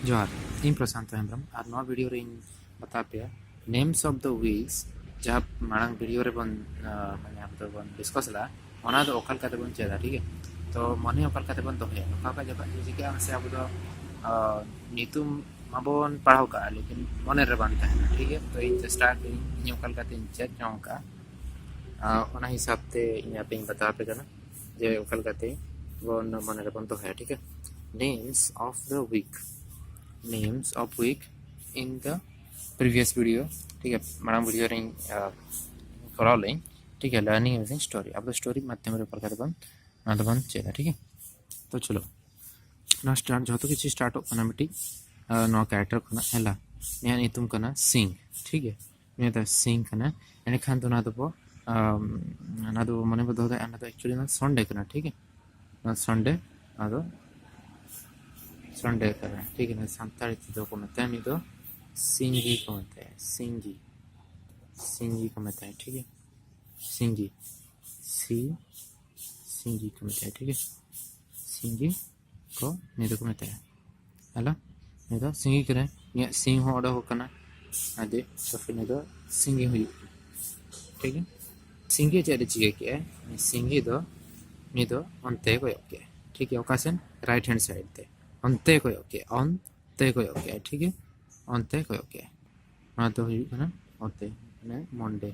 ᱡᱚᱦᱟᱨ ᱤᱧ ᱯᱨᱚᱥᱟᱱᱛ ᱦᱮᱢᱵᱨᱚᱢ ᱟᱨ ᱱᱚᱣᱟ ᱵᱷᱤᱰᱤᱭᱳ ᱨᱮᱧ ᱵᱟᱛᱟ ᱯᱮᱭᱟ ᱱᱮᱢᱥ ᱚᱯᱷ ᱫᱚ ᱣᱤᱠᱥ ᱡᱟᱦᱟᱸ ᱢᱟᱲᱟᱝ ᱵᱷᱤᱰᱤᱭᱳ ᱨᱮᱵᱚᱱ ᱢᱟᱱᱮ ᱟᱵᱚ ᱫᱚᱵᱚᱱ ᱰᱤᱥᱠᱚᱥ ᱞᱮᱫᱟ ᱚᱱᱟ ᱫᱚ ᱚᱠᱟ ᱞᱮᱠᱟ ᱛᱮᱵᱚᱱ ᱪᱮᱫᱟ ᱴᱷᱤᱠ ᱜᱮᱭᱟ ᱛᱚ ᱢᱚᱱᱮ ᱚᱠᱟ ᱞᱮᱠᱟ ᱛᱮᱵᱚᱱ ᱫᱚᱦᱚᱭᱟ ᱱᱚᱝᱠᱟ ᱚᱠᱟ ᱡᱚᱠᱷᱚᱱ ᱪᱤᱠᱟᱹᱜᱼᱟ ᱢᱟᱥᱮ ᱟᱵᱚ ᱫᱚ ᱧᱩᱛᱩᱢ ᱢᱟᱵᱚᱱ ᱯᱟᱲᱦᱟᱣ ᱠᱟᱜᱼᱟ ᱞᱮᱠᱤᱱ ᱢᱚᱱᱮ ᱨᱮ ᱵᱟᱝ ᱛᱟᱦᱮᱱᱟ ᱴᱷᱤᱠ ᱜᱮᱭᱟ ᱛᱚ ᱤᱧ ᱪᱮᱥᱴᱟ ᱟᱠᱟᱫᱟᱹᱧ ᱤᱧ ᱚᱠᱟ ᱞᱮᱠᱟᱛᱮᱧ ᱪᱮᱫ ᱡᱚᱝ ᱠᱟᱜᱼᱟ ᱚᱱᱟ ᱦᱤᱥᱟᱹᱵ ᱛᱮ ᱤᱧ ᱟᱯᱮᱧ ᱵᱟᱛᱟᱣ ᱟᱯᱮ ᱠᱟᱱᱟ ᱡᱮ ᱚᱠᱟ ᱞᱮᱠᱟᱛᱮ ᱵᱚᱱ ᱢᱚᱱᱮ ᱨᱮᱵᱚᱱ ᱫᱚᱦᱚᱭᱟ ᱴᱷᱤᱠ names of the week names of week in the previous video ᱴᱷᱤᱠ ᱜᱮᱭᱟ ᱢᱟᱲᱟᱝ ᱵᱷᱤᱰᱤᱭᱳ ᱨᱮᱧ ᱠᱚᱨᱟᱣ ᱞᱮᱫᱟᱹᱧ ᱴᱷᱤᱠ ᱜᱮᱭᱟ ᱞᱟᱨᱱᱤᱝ ᱤᱭᱩᱡᱤᱝ ᱥᱴᱳᱨᱤ ᱟᱵᱚ ᱥᱴᱳᱨᱤ ᱢᱟᱫᱽᱫᱷᱚᱢ ᱨᱮ ᱚᱠᱟ ᱞᱮᱠᱟᱛᱮ ᱵᱚᱱ ᱚᱱᱟ ᱫᱚᱵᱚᱱ ᱪᱮᱫᱟ ᱴᱷᱤᱠ ᱜᱮᱭᱟ ᱛᱚ ᱪᱚᱞᱚ ᱱᱚᱣᱟ ᱥᱴᱟᱨᱴ ᱡᱚᱛᱚ ᱠᱤᱪᱷᱩ ᱥᱴᱟᱨᱴᱚᱜ ᱠᱟᱱᱟ ᱢᱤᱫᱴᱤᱡ ᱱᱚᱣᱟ ᱠᱮᱨᱮᱠᱴᱟᱨ ᱠᱷᱚᱱᱟᱜ ᱦᱮᱞᱟ ᱱᱤᱭᱟᱹ ᱧᱩᱛᱩᱢ ᱠᱟᱱᱟ ᱥᱤᱝ ᱴᱷᱤᱠ ᱜᱮᱭᱟ ᱱᱤᱭᱟᱹ ᱫᱚ ᱥᱤᱝ ᱠᱟᱱᱟ ᱮᱸᱰᱮᱠᱷᱟᱱ ᱫᱚ ᱚᱱᱟ ᱫᱚᱵᱚ ᱚᱱᱟ ᱫᱚ ᱢᱚᱱᱮ ᱵᱚ ᱫᱚᱦᱚ ᱫᱟᱲᱮᱭᱟᱜᱼᱟ ᱚᱱᱟ ᱫᱚ ᱮᱠᱪᱩᱭᱮᱞᱤ ᱚᱱᱟ ᱥᱚᱱᱰᱮ ᱠᱟᱱᱟ ᱴᱷᱤᱠ ᱜᱮᱭᱟ ᱚᱱᱟ ᱥᱚᱱᱰᱮ ᱟᱫᱚ ᱥᱚᱱᱰᱮ ᱠᱟᱱᱟ ᱴᱷᱤᱠ ᱜᱮᱭᱟ ᱥᱟᱱᱛᱟᱲᱤ ᱛᱮᱫᱚ ᱠᱚ ᱢᱮᱛᱟᱭᱟ ᱱᱩᱭ ᱫᱚ ᱥᱤᱝᱜᱤ ᱠᱚ ᱢᱮᱛᱟᱭᱟ ᱥᱤᱝᱜᱤ ᱥᱤᱝᱜᱤ ᱠᱚ ᱢᱮᱛᱟᱭᱟ ᱴᱷᱤᱠ ᱜᱮᱭᱟ ᱥᱤᱝᱜᱤ ᱥᱤ ᱥᱤᱝᱜᱤ ᱠᱚ ᱢᱮᱛᱟᱭᱟ ᱴᱷᱤᱠ ᱜᱮᱭᱟ ᱥᱤᱝᱜᱤ ᱠᱚ ᱱᱤᱭᱟᱹ ᱫᱚᱠᱚ ᱢᱮᱛᱟᱭᱟ ᱦᱮᱞᱳ ᱱᱤᱭᱟᱹ ᱫᱚ ᱥᱤᱸᱜᱤ ᱠᱟᱱᱟᱭ ᱤᱧᱟᱹᱜ ᱥᱤᱝ ᱦᱚᱸ ᱚᱰᱚᱠᱚᱜ ᱠᱟᱱᱟ ᱟᱫᱚ ᱛᱚᱠᱷᱚᱱ ᱱᱤᱭᱟᱹ ᱫᱚ ᱥᱤᱸᱜᱤ ᱦᱩᱭᱩᱜ ᱠᱟᱱᱟ ᱴᱷᱤᱠ ᱜᱮᱭᱟ ᱥᱤᱸᱜᱤ ᱪᱮᱫ ᱮ ᱪᱤᱠᱟᱹ ᱠᱮᱜᱼᱟᱭ ᱥᱤᱸᱜᱤ ᱫᱚ ᱱᱤᱭᱟᱹ ᱫᱚ ᱚᱱᱛᱮ ᱠᱚᱭᱚᱜ ᱠᱮᱜᱼᱟᱭ ᱴᱷᱤᱠ ᱜᱮᱭᱟ ᱚᱠᱟ ᱥᱮᱱ ᱨᱟᱭᱤᱴ ᱦᱮᱱᱰ ᱥᱟᱭᱤᱰ ᱛᱮ ᱚᱱᱛᱮ ᱠᱚᱭᱚᱜ ᱠᱮᱜᱼᱟᱭ ᱚᱱᱛᱮ ᱠᱚᱭᱚᱜ ᱠᱮᱜᱼᱟᱭ ᱴᱷᱤᱠ ᱜᱮᱭᱟ ᱚᱱᱛᱮ ᱠᱚᱭᱚᱜ ᱠᱮᱜᱼᱟᱭ ᱱᱚᱣᱟ ᱫᱚ ᱦᱩᱭᱩᱜ ᱠᱟᱱᱟ ᱚᱛᱮ ᱢᱟᱱᱮ ᱢᱚᱱᱰᱮ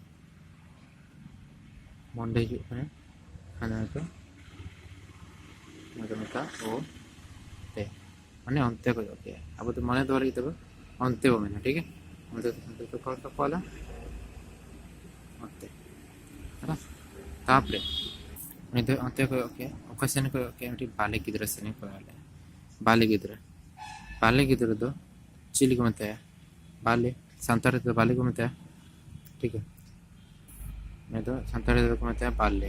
ᱢᱚᱱᱰᱮ ᱦᱩᱭᱩᱜ ᱠᱟᱱᱟ ᱦᱟᱱᱟ ᱫᱚ ᱚᱱᱟ ᱫᱚ ᱢᱮᱛᱟᱜ ᱚ ᱛᱮ ᱢᱟᱱᱮ ᱚᱱᱛᱮ ᱠᱚ ᱚᱡᱚᱜ ᱠᱮᱜᱼᱟ ᱟᱵᱚ ᱫᱚ ᱢᱚᱱᱮ ᱫᱚᱦᱚ ᱞᱟᱹᱜᱤᱫ ᱛᱮᱵᱚ ᱚᱱᱛᱮ ᱵᱚ ᱢᱮᱱᱟ ᱴᱷᱤᱠ ᱜᱮᱭᱟ ᱚᱱᱛᱮ ᱚᱱᱛᱮ ᱫᱚ ᱠᱚᱞ ᱠᱚ ᱠᱚᱞᱟ ᱚᱱᱛᱮ ᱛᱟᱯᱚᱨᱮ ᱩᱱᱤ ᱫᱚ ᱚᱱᱛᱮ ᱠᱚᱭᱚᱜ ᱠᱮᱜᱼᱟ ᱚᱠᱟ ᱥᱮᱱ ᱠᱚᱭᱚᱜ ᱠᱮᱜᱼᱟ ᱢᱤᱫᱴᱤᱡ ᱵᱟᱞᱮ ᱜᱤᱫᱽᱨᱟᱹ ᱥᱮᱱᱮ ᱠᱚᱭᱚᱜ ᱞᱮᱜᱼᱟ ᱵᱟᱞᱮ ᱜᱤᱫᱽᱨᱟᱹ ᱵᱟᱞᱮ ᱜᱤᱫᱽᱨᱟᱹ ᱫᱚ ᱪᱤᱞᱤ ᱠᱚ ᱢᱮᱛᱟᱭᱟ ᱵᱟᱞᱮ ᱥᱟᱱᱛᱟᱲ ᱛᱮᱫᱚ ᱵᱟᱞᱮ ᱠᱚ ᱢᱮᱛᱟᱭᱟ ᱴᱷᱤᱠ ᱜᱮᱭᱟ ᱱᱩᱭ ᱫᱚ ᱥᱟᱱᱛᱟᱲ ᱛᱮᱫᱚ ᱠᱚ ᱢᱮᱛᱟᱭᱟ ᱵᱟᱞᱮ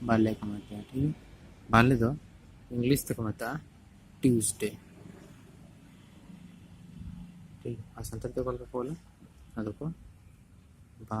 ᱵᱟᱞᱮ ᱠᱚ ᱢᱮᱛᱟᱭᱟ ᱴᱷᱤᱠ ᱜᱮᱭᱟ ᱵᱟᱞᱮ ᱫᱚ ᱤᱝᱞᱤᱥ ᱛᱮᱠᱚ ᱢᱮᱛᱟᱜᱼᱟ ᱴᱤᱭᱩᱥᱰᱮ ᱴᱷᱤᱠ ᱟᱨ ᱥᱟᱱᱛᱟᱲ ᱛᱮ ᱚᱠᱟ ᱞᱮᱠᱟ ᱠᱚ ᱚᱞᱟ ᱟᱫᱚ ᱠᱚ ᱵᱟ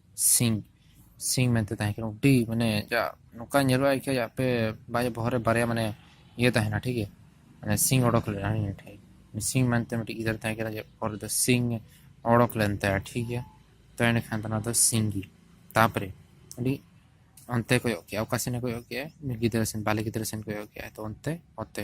ᱥᱤᱝ ᱥᱤᱝ ᱢᱮᱱᱛᱮ ᱛᱟᱦᱮᱸ ᱠᱟᱱᱟ ᱟᱹᱰᱤ ᱢᱟᱱᱮ ᱡᱟ ᱱᱚᱝᱠᱟ ᱧᱮᱞᱚᱜᱼᱟ ᱮᱠᱷᱟᱡ ᱟᱯᱮ ᱵᱟᱭ ᱵᱚᱦᱚᱜ ᱨᱮ ᱵᱟᱨᱭᱟ ᱢᱟᱱᱮ ᱤᱭᱟᱹ ᱛᱟᱦᱮᱱᱟ ᱴᱷᱤᱠ ᱜᱮᱭᱟ ᱢᱟᱱᱮ ᱥᱤᱝ ᱚᱰᱚᱠ ᱞᱮᱱᱟ ᱱᱤᱭᱟᱹ ᱴᱷᱮᱡ ᱥᱤᱝ ᱢᱮᱱᱛᱮ ᱢᱤᱫᱴᱤᱡ ᱜᱤᱫᱟᱹᱨ ᱛᱟᱦᱮᱸ ᱠᱟᱱᱟ ᱡᱮ ᱯᱚᱨᱮ ᱫᱚ ᱥᱤᱝ ᱚᱰᱚᱠ ᱞᱮᱱ ᱛᱟᱭᱟ ᱴᱷᱤᱠ ᱜᱮᱭᱟ ᱛᱚ ᱮᱸᱰᱮᱠᱷᱟᱱ ᱫᱚ ᱚᱱᱟ ᱫᱚ ᱥᱤᱝ ᱜᱮ ᱛᱟᱯᱚᱨᱮ ᱟᱹᱰᱤ ᱚᱱᱛᱮ ᱠᱚᱭᱚᱜ ᱠᱮᱜᱼᱟ ᱚᱠᱟ ᱥᱮᱱᱮ ᱠᱚᱭᱚᱜ ᱠᱮᱜᱼᱟ ᱜᱤᱫᱽᱨᱟᱹ ᱥᱮᱱ ᱵᱟᱞᱮ ᱜᱤᱫᱽᱨᱟᱹ ᱥᱮᱱ ᱠᱚᱭᱚᱜ ᱠᱮᱜᱼᱟ ᱛᱚ ᱚᱱᱛᱮ ᱚᱛᱮ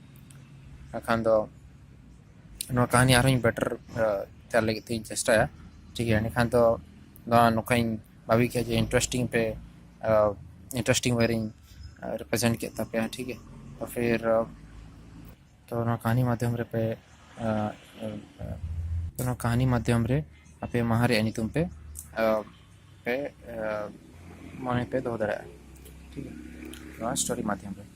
ᱵᱟᱠᱷᱟᱱ ᱫᱚ ᱱᱚᱣᱟ ᱠᱟᱹᱦᱱᱤ ᱟᱨᱦᱚᱸ ᱤᱧ ᱵᱮᱴᱟᱨ ᱛᱮᱭᱟᱨ ᱞᱟᱹᱜᱤᱫ ᱛᱤᱧ ᱪᱮᱥᱴᱟᱭᱟ ᱴᱷᱤᱠ ᱜᱮᱭᱟ ᱮᱸᱰᱮᱠᱷᱟᱱ ᱫᱚ ᱱᱚᱣᱟ ᱱᱚᱝᱠᱟᱧ ᱵᱷᱟᱹᱵᱤ ᱠᱮᱫᱼᱟ ᱡᱮ ᱤᱱᱴᱟᱨᱮᱥᱴᱤᱝ ᱯᱮ ᱤᱱᱴᱟᱨᱮᱥᱴᱤᱝ ᱳᱭᱮ ᱨᱤᱧ ᱨᱤᱯᱨᱮᱡᱮᱱᱴ ᱠᱮᱫ ᱛᱟᱯᱮᱭᱟ ᱴᱷᱤᱠ ᱜᱮᱭᱟ ᱛᱚ ᱯᱷᱤᱨ ᱛᱚ ᱱᱚᱣᱟ ᱠᱟᱹᱦᱱᱤ ᱢᱟᱫᱽᱫᱷᱚᱢ ᱨᱮ ᱯᱮ ᱛᱚ ᱱᱚᱣᱟ ᱠᱟᱹᱦᱱᱤ ᱢᱟᱫᱽᱫᱷᱚᱢ ᱨᱮ ᱟᱯᱮ ᱢᱟᱦᱟ ᱨᱮᱭᱟᱜ ᱧᱩᱛᱩᱢ ᱯᱮ ᱯᱮ ᱢᱚᱱᱮ ᱯᱮ ᱫᱚᱦᱚ ᱫᱟᱲᱮᱭᱟᱜᱼᱟ ᱴᱷᱤᱠ ᱜᱮᱭᱟ ᱱᱚᱣᱟ ᱥᱴᱳᱨᱤ ᱢᱟᱫᱽᱫᱷᱚᱢ ᱨᱮ